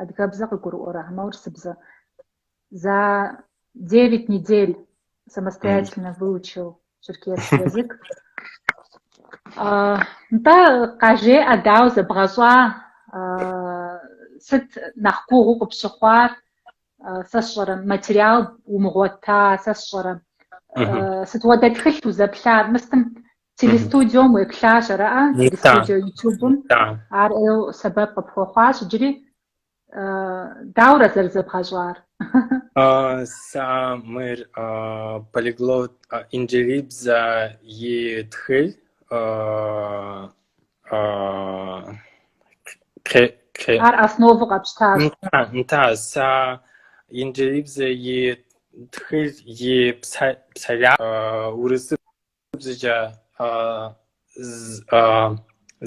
Адыгэбзэ къыгурыӏуэрэ хьэмэ урысыбзэ? За 9 недель самостоятельно выучил черкесский язык. Нтӏэ къажеӏэ дауэ зэбгъэщӏа сыт нэхъ гугъуу къыпщыхъуар, сэ сщӏэрэ материал умыгъуэта, сэ сщӏэрэ сыт хуэдэ тхылъ узэплъар, мыстым Телестудиом уеплъащ, араӏэ? Телестудио YouTube-м ар ӏейу сэбэп къыпхуэхъуащ иджыри. Дауэрэ зэрызэбгъэщӏар? Сэ мыр полиглот инджылыбзэ и тхылъ. Ар основу къэпщтащ. Нтӏэ, сэ инджылыбзэ и тхылъ и псалъэ урысыбзэ Бзэкӏэ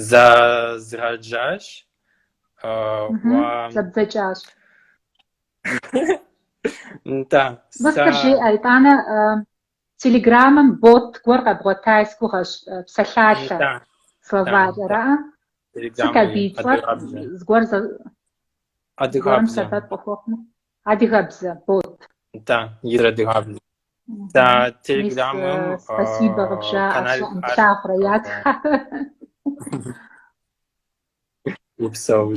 зэзгъэджащ. Зэбдзэкӏащ. Да. Мыстыр жиӏэ, итӏанэ телеграммэм бот гуэр къэбгъуэта сгугъэщ, псалъалъэ словарь, араӏэ? Сыт абы и цӏэр? Зыгуэр зэ... Адыгэбзэм. Сэбэп къыхуэхъумэ. Адыгэбзэ, бот. Да, из адыгэбзэ. Да, телеграммэм. Мис, спасибо къыбжаӏэ, плъагъурэ, ятх. Упсэу.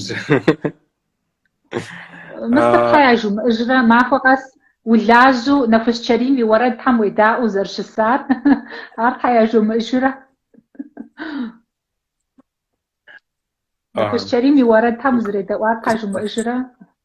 Мыстыр щхьэ яжумыӏэжрэ, махуэ къэс улажьу Нэхущ Чэрим и уэрэдхэм уедаӏуэу узэрыщысар, ар щхьэ яжумыӏэжрэ. Нэхущ Чэрим и уэрэдхэм узэредэӏуар щхьэ жумыӏэжрэ.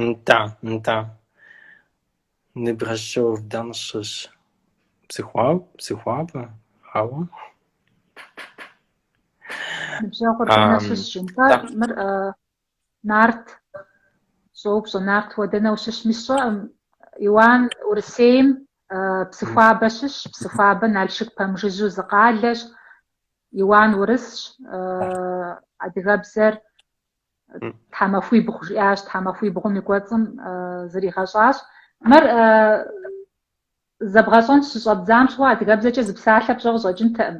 Нтӏэ, нтӏэ. Ныбжьыщӏэр дэнэ щыщ? Псыхуаб, Псыхуабэ, ауэ. Ныбжьэгъур дэнэ щыщ жынка? да. Мыр э, Нарт щӏоупщӏэ, Нарт уэ дэнэ ущыщми сщӏэӏым. Иуан Урысейм э, Псыхуабэ щыщщ, Псыхуабэ Налшык пэмыжыжьу зы къалэщ. Иуан урысщ, э, адыгэбзэр тхьэмахуибгъу жиӏащ, тхьэмахуибгъум и кӏуэцӏым зригъэщӏащ. Мыр зэбгъэщӏэн щыщӏэбдзам щыгъуэ адыгэбзэкӏэ зы псалъэ пщӏэ къыщӏэкӏынтэӏым.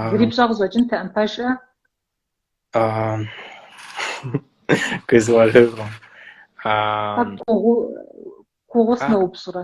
Зыри пщӏэ къыщӏэкӏынтэӏым, пэжӏэ? Къызгурыӏуэкъым. Гугъу сыноупщӏрэ?